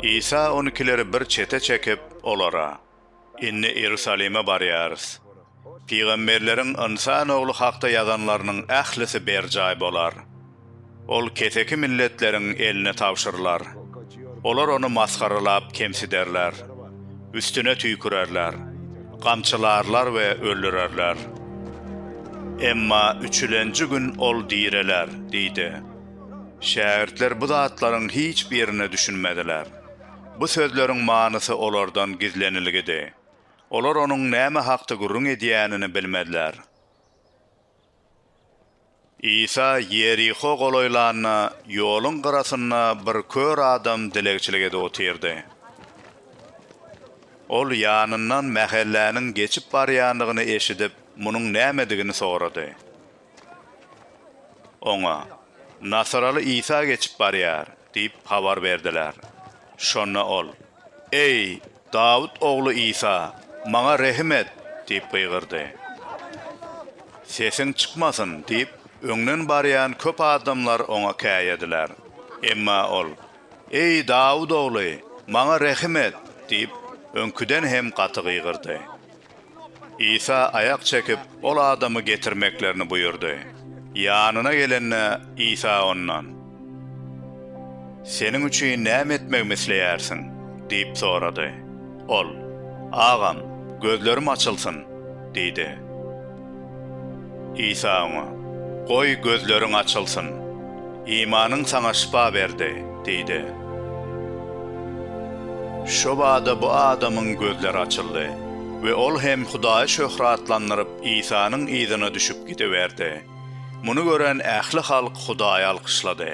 Isa on ikileri bir çete çekip, olara, Indi Iýerusalime barýarys. Pygamberleriň Ynsan Ogly hakda ýazanlarynyň ählisi berjaý bolar. Ol keseki milletleriň eline tabşyrylar. Olar ony masgaralap kemsiderler. Üstüne tüýkürerler. Gamçylarlar we öldürerler. Emma üçülenji gün ol direler diýdi. Şägirtler bu zatlaryň hiç birine düşünmediler. Bu sözleriň manysy olardan gizlenilgidi. Olar onuň näme hakda gürrüň edýänini bilmediler. Isa Ýeriho golaýlanda, ýoluň gyrasynda bir kör adam dilegçilik edip otyrdy. Ol ýanyndan mähelläniň geçip barýandygyny eşidip, munuň nämedigini sorady. Oňa, Nasaraly Isa geçip barýar diýip habar berdiler. Şonda ol, Eý, Dawut ogly Isa, maňa rehim et! diýip gygyrdy. Sesiň çykmasyn! diýip, öňden barýan köp adamlar oňa käýediler. Emma ol, Eý, Dawut ogly, maňa rehim et! diýip, öňküden hem gaty gygyrdy. Isa aýak çekip, ol adamy getirmeklerini buýurdy. Ýanyna gelende, Isa ondan, Seniň üçin näme etmegimi isleýärsiň? diýip sorady. Ol, Agam, gözlerim açylsyn! diýdi. Isa oňa, Goý, gözleriň açylsyn. Imanyň saňa şypa berdi diýdi. Şobada bu adamyň gözleri açyldy we ol hem Hudaýy şöhratlandyryp, Isanyň yzyna düşüp gidiberdi. Muny gören ähli halk Hudaýy alkyşlady.